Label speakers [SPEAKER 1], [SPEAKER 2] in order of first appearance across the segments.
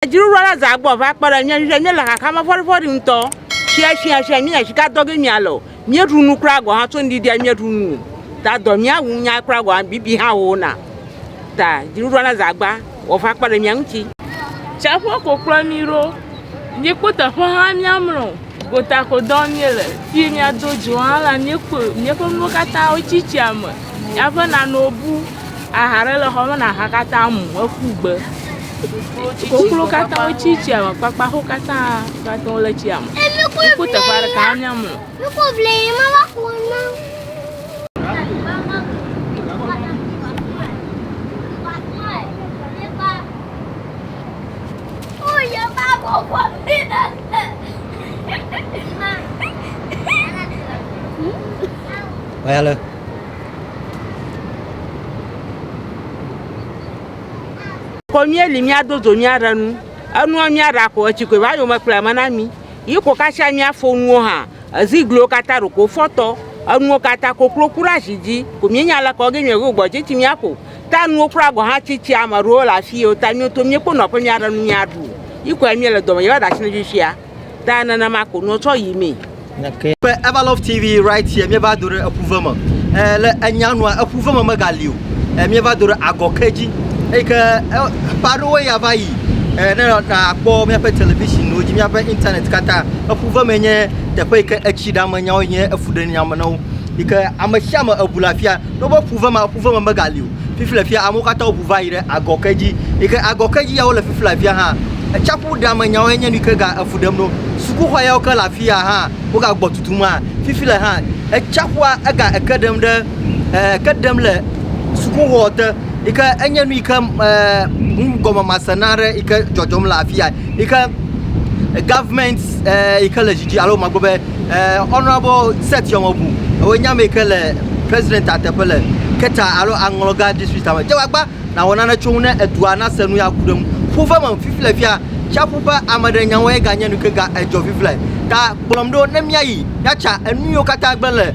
[SPEAKER 1] Dziɖuɖua la zã gbɔ va kpe ɖe mía ŋu. Míele xaxa me vɔɖivɔɖi ŋutɔ. Sia sia sia míenya zi ka dɔ ge míale o. Míeɖu nu kura gɔ̃ hã tso ŋɖiɖia míeɖu nu o. Ta dɔ mía wu nya kura gɔ̃ hã bibi hã wowona. Ta dziɖuɖua la zã gbã wɔ va kpe ɖe mía ŋuti. Tsiaƒua ko
[SPEAKER 2] kplɔ mí ɖo. Mí kpɔ teƒe hã míamlɔ o. Gotakodɔ míele, fii míado dzo hã la, míekɔe, míaƒe nuwo katã wotsi tsia me, míaƒe nanewo bu, aha ɖe le xɔ me na aha katã mu eku gbe. Koklo katã wotsi tsia me, kpakpaxo katã va te ŋu le tsia me. Woku teƒe aɖeke hã míamlɔ.
[SPEAKER 3] Vale.
[SPEAKER 1] Ko míeli míado dzo míaɖe nu. Enua míaɖa ko etsi koe va yome kplɔe me na mí. Yi ko katsia míafɔ nuwo hã. Ezigliwo katã ɖeko fɔtɔ. Enuwo katã koklo ku ɖe ashi dzi. Ko míenya aleke wɔ ge míaɖo gbɔ dzi tsi míaƒo. Ta nuwo kura gɔ̃ hã tsi tsia ame aɖewo le afi yewo ta nyo to míekpɔ nɔ aƒe míaɖe nu míaɖu. Yi koe míele dɔme yewo ɖe asi ne fifia. Ta nenema ko nuwo tsɔ yi mee. Nake. Be
[SPEAKER 3] Everlove TV right here míeva do ɖe eƒuve me e le enya nua eƒuve me mega li o e míeva do ɖe agɔ ke dzi eyi ke e ƒe aɖewoe ya va yi e ne na kpɔ míaƒe television wo dzi míaƒe internet katã eƒuve me nye teƒe yi ke etsi ɖa me nyawo nye efuɖe nya me na wo yi ke ame sia ame eŋu le afia Togbɔ be ƒuve ma ƒuve me megali o, fifi le fia amewo katã ʋu va yi ɖe agɔ ke dzi. Yi ke agɔ ke dzi ya wole fifi le afia hã. Tsiaƒu ɖa me nyawoe nye nu yi ke ga efu ɖem no. Sukuxɔ yawo ke le afia hã woga gbɔ tutum hã. Fifi le hã etsiaƒua ega eke ɖem ɖe e eke ɖem le sukuxɔ te yi ke enye nu yi ke e nugɔmemase na aɖe yi ke dzɔdzɔm le afia yi ke gɔvimɛnt e yi ke le dzi dzi alo magblɔ be. Uh, Honorable Seth Yɔmɔbu, èwɔ nya me ke le president a teƒe le Keta alo Aŋlɔga district a me. Dze wagba nawɔ nane tso ŋu ne edua nase nu ya ku ɖe ŋu. Ƒu ve me fifi le fia, tsiaƒu ƒe ame ɖe nyawo ye ganye nu ke ga edzɔ fifi le. Ta kplɔm ɖo ne míayi míatsa enu yiwo katã gblẽ le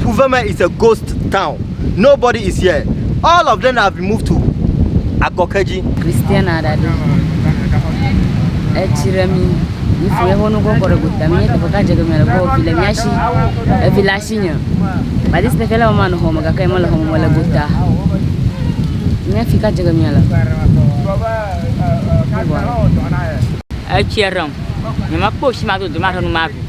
[SPEAKER 3] Fuveme is a ghost town. Nobody is here. All of them have been moved to Agɔkedzi. Christian aɖaɖe
[SPEAKER 4] etsi ɖe mi yi fi eƒe nu kɔkɔ ɖe gota mi teƒe ka dze geme le gbɔ fi le mia si evi le asi nye but this person le mama nɔ xɔme gake ye mele xɔme le gota mia fi ka dze geme le
[SPEAKER 2] etsi ɖem nyemekpɔ si ma dodo ma ɖe nu ma vi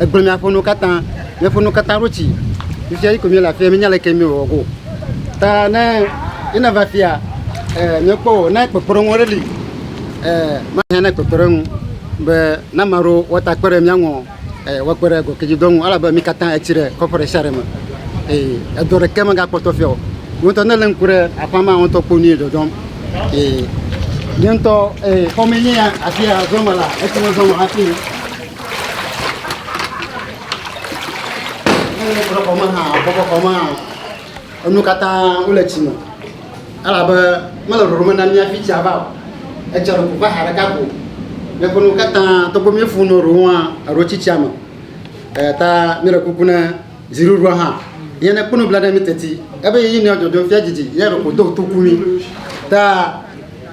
[SPEAKER 5] Egblẽ mia ƒe nuwo katã, mia ƒe nuwo katã ɖo tsi. Fifia yi ko mia le afia, mi nya le ke mi wɔ ko. Ta ne yi na va afia, eh, mia kpɔ wɔ, ne kpekpe ɖe ŋu ɖe li, eh, ma hɛn ne kpekpe ɖe ŋu, be na ma ɖo wɔ ta kpe ɖe mia ŋu, eh, wɔ kpe ɖe gɔ ke dzi dɔ ŋu, ala be mi katã etsi ɖe kɔƒe ɖe sia ɖe me. Eh, edɔ ɖe ke me ga kpɔtɔ fia wɔ. Wo ŋutɔ ne le ŋku ɖe aƒa ma, wo ŋutɔ kpɔ nu yi dɔdɔm. Eh, mi ŋutɔ, eh, xɔme nye ya, afia zɔme la, etsi me zɔme hafi. Ele kplɔ xɔme hã, bɔbɔ xɔme hã, enu katã wole tsi me. Elabe mele ɖoɖo me na mía fi tsia va o. Etsia ɖo ƒoƒe aha ɖeka ko. Míaƒe nuwo katã, togbɔ be míefu nu ɖewo hã, eɖewo tsi tsia me. Eya ta míele kuku ne dziɖuɖua hã ye nekpɔ nublanui na mí teti. Ebe yeyi nɔa dzɔdzɔm fia didi, ya ɖeko do toku mí. Ta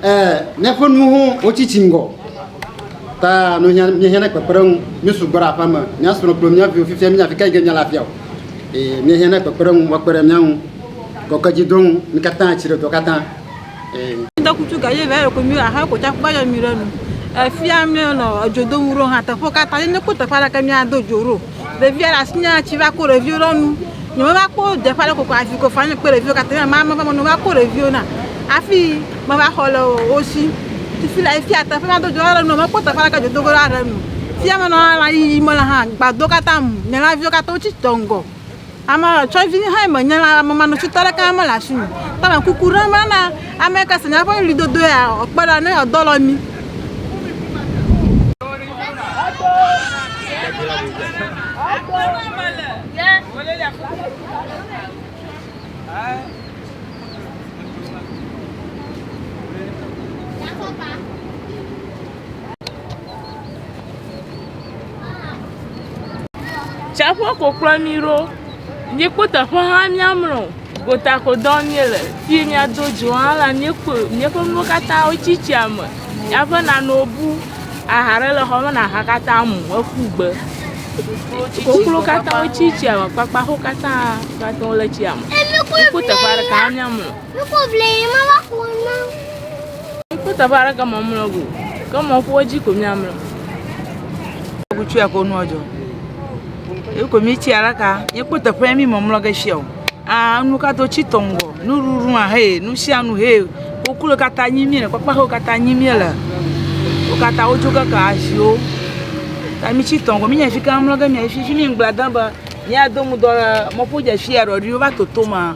[SPEAKER 5] Ẽ, ne eƒe nuwo ho tsi tsi ŋgɔ ta nuhiã míehiã ne kpekpeɖeŋu. Míesugbɔ ɖe aƒea me, mía srɔ̃ kple mía viwo fifia míenya afi ka yi ke míele afia o. Eye míehiã ne kpekpeɖeŋu woakpe ɖe mía ŋu kɔkɔedzidɔ ŋu, mí katã tsi ɖe dɔ katã. Ẽ.
[SPEAKER 6] Ŋdɔkutsu gaye vɛ yoko mi aha ko tsa kpɔ yɔ mi ɖe nu. Efia mi nɔ edzo do ŋu ɖo hã teƒe katã ye ne ko teƒe aɖe ke mi ado dzo ɖo. Ɖevia le asinye atsi va ko ɖeviwo ɖe nu. Nye meva kpɔ deƒe ale koko avi ko fanye kpe ɖeviwo katã. Nye mama va mɔnu va kpɔ ɖeviwo na. Afi meva xɔ le wo si. Tufi le efi ate ƒe mado dzo ale nu mekpɔ teƒe aleke dzo dogo ale nu. Fia menɔ ala yi yi mele hã gbado katã mu. Nye laviwo katã wotsi tɔ ŋgɔ. Ame tsɔ vinye hã me nye la ame ma nutsi tɔ ɖeka me le asi me ta me kuku ɖe me na ame ka se nya ƒe ɣli dodo ya o kpe ɖa ne edɔ lɔ mi.
[SPEAKER 2] Tsaƒua ko kplɔ mí ɖo. Míekpɔ teƒe hã míamlɔ o. Gota ko dɔ wɔm míele. Fi yi míado dzo hã la, míekpɔe. Míaƒe nuwo katã wotsi tsia me. Míaƒe nanewo bu. Aha ɖe le xɔ me na aha katã mu eƒu gbe. Koklo katã wotsi tsia me. Kpakpaxwo katã wole tsia me. Míekpɔ teƒe ɖeka hã míamlɔ o. Ikú teƒe aɖe ke mɔ mlɔ go. Ke mɔ ƒuwo dzi ko miamlɔ.
[SPEAKER 1] Kutu ya ko nu ɔdzɔ. Eko mi tsi ara ka. Ikú teƒe mi mɔ mlɔ ge shia o. Ah, nu ka to tsi tɔngɔ. Nu ruru a he, nu shia nu he. Okulo kata nyi mi le kpakpa ho kata nyi mi le. O kata o tso kaka ashio. Ta mi tsi tɔngɔ mi nya shika mlɔ ge mi ashi shi mi ngbla dan ba. Ni ado mu dɔ mɔ ƒu dja shia rɔ ri o va toto ma.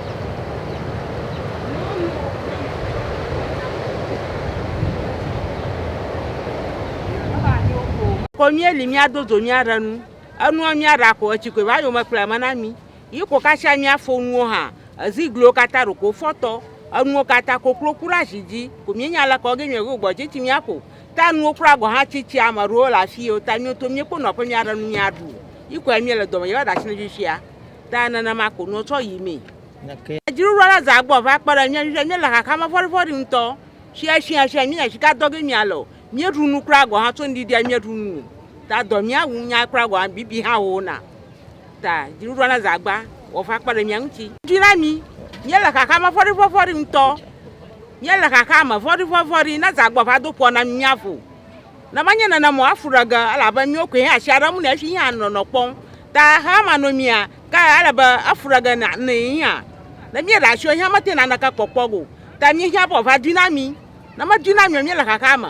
[SPEAKER 1] ko míeli míado dzo míaɖe nu. Enua míaɖa ko etsi koe va yome kplɔe me na mí. Yi ko katsia míafo nuwo hã. Ezigliwo katã ɖo ko fɔtɔ. Enuwo katã koklo ku ɖe azi dzi. Ko míenya leke wɔ ge míaɖe go gbɔ tsi míaƒo. Ta nuwo kura gɔ̃ hã tsi tsia ame ɖewo le afii o. Ta míeto míekpɔ nɔƒe míaɖe nu míaɖu. Yi koe míele dɔme yɔ ɖe asi na mí fifia. Ta nenema ko nua tsɔ yi mee. Gake dziɖuɖua la zã gbɔ va kpe ɖe mía dzi be míele xaxame vɔ̃ɖivɔ̃ɖi ŋutɔ. Sia sia sia míenya sika dɔ ge míale o. Míeɖu nu kura gɔ̃ hã tso ŋdi ɖia míeɖu nu o. Ta dɔ mía wu nya kura gɔ̃ hã bibi hã wowona. Ta dziɖuɖua la zã agba wɔ va kpe ɖe mía ŋuti. Dzi na mí. Míele xaxame vɔ̃ɖivɔ̃ɖi ŋutɔ. Míele xaxame vɔ̃ɖivɔ̃ɖi. Ne zã gbɔ va do ƒɔ na mí míavo. Ne menye nenem o, afu ɖe ge, elabe míwo koe hã asia ɖe eŋu nɛ hafi yí hã nɔnɔ kpɔm. Ta hama nɔ mía, ke ele be afu ɖe ge na nɛ yí hã. Ne míeɖe asi o yí hã metea naneke kpɔkpɔ ge o, ta míehiã be wòava dui na mí. Ne medui na mí o, míele xaxa me.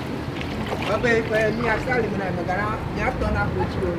[SPEAKER 7] Ebe ƒe miasi ali
[SPEAKER 6] me na megana miatɔ na kotsiwo.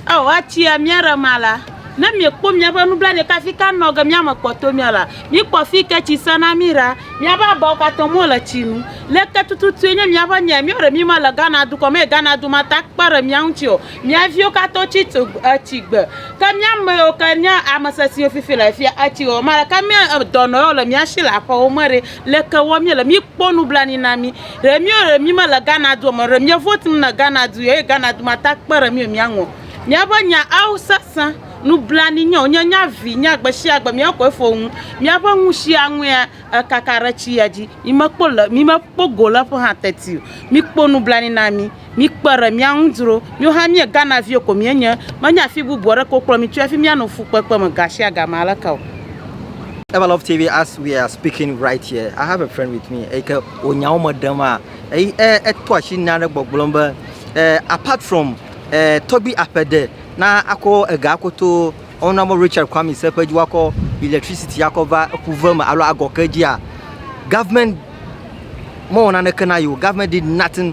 [SPEAKER 6] Ao atsia
[SPEAKER 7] miaɖe
[SPEAKER 6] ma la, ne miekpɔ miaƒe nublanui kafi ka nɔ ge miame kpɔto mia la, mikpɔ fi ke tsi se na mi ɖa. Miaƒe abawo katã mo le tsi nu. Leke tututue nye miaƒe nya ya miawo ɖe mi mele Ghana dukɔ me eye Ghana du ma ta kpe ɖe mia ŋuti o. Mia viwo katã wotsi tso etsi gbe. Ke miame yiwo ke nye ame sesiwo fifi le fia etsi wɔwɔ ma la, ke me dɔnɔyawo le miasi le aƒewo me ɖe? Leke wɔ míele? Míkpɔ nublanui na mí. Ɖe míwo ɖe mímele Ghana dua me o. Ɖe mía votum na Ghana du eye Ghana du ma ta kpe ɖe mí o míaŋɔ. Míaƒe nya awo sesẽ. Nublanui nyo. Nye nya vi nya gbeshiagbe mía koe fo ŋu. Míaƒe ŋushi aŋuia ekaka ɖe tsi ya dzi. Mímekpo le mímekpo go le eƒe ha teti o. Míkpo nublanui na mí. Mikpe ɖe mía ŋu dzro. Míwo hã míe Ghana viwo ko míenye. Menye afi bubu aɖeke wokplɔ mi tsoe hafi míanɔ fukpekpe me gashiagame aleke o. Eva
[SPEAKER 3] Love TV as we are speaking right here I have a friend with me eyike wò nyawo me ɖem a eyi e eto asi nya ɖe gbɔgblɔm be e apart from e tɔgbi aƒe de na akɔ ega akɔ to honourable Richard Kwame Serpent dzi wakɔ electricity akɔ va eƒu ve me alo agɔ ke dzia government mewɔ naneke na yi o government did nothing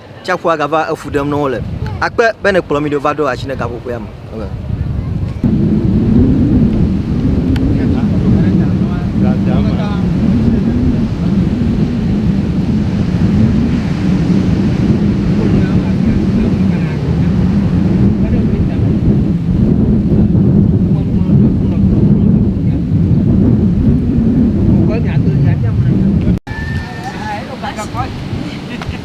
[SPEAKER 3] Tsiaƒua gava efu ɖem nɔ wo le. Akpe be nèkplɔ mí ɖo va ɖo asi ne gaƒoƒea me.